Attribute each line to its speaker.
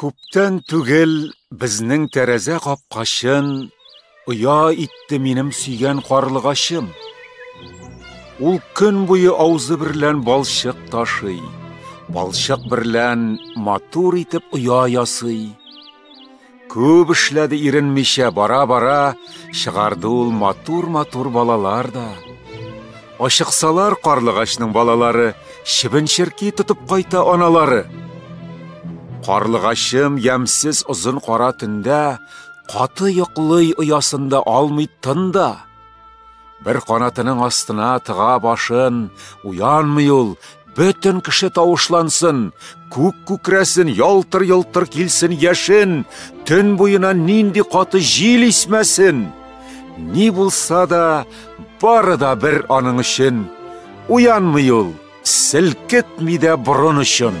Speaker 1: Күптән түгел безнең тәрәзә капкачын оя итте минем сөйгән карлыгачым. Ул көн буе аузы берлән балчык ташый, балчык берлән матур итеп оя ясый. Күп эшләде иренмичә, бара-бара чыгарды ул матур-матур балалар да. Ашыксалар карлыгачның балалары чебенчерки тотып кайта аналары. Карлыгачым ямсез озын кара төндә каты йоклый оясында алмый тында. Бер канатының астына тыга башын, уянмый ул, бөтен кеше тавышлансын, күк күкрәсен, ялтыр-йылтыр килсен яшен, төн буена нинди каты җил исмәсен. Ни булса да, бары да бер аның өчен. Уянмый ул, селкетми дә борын өчен.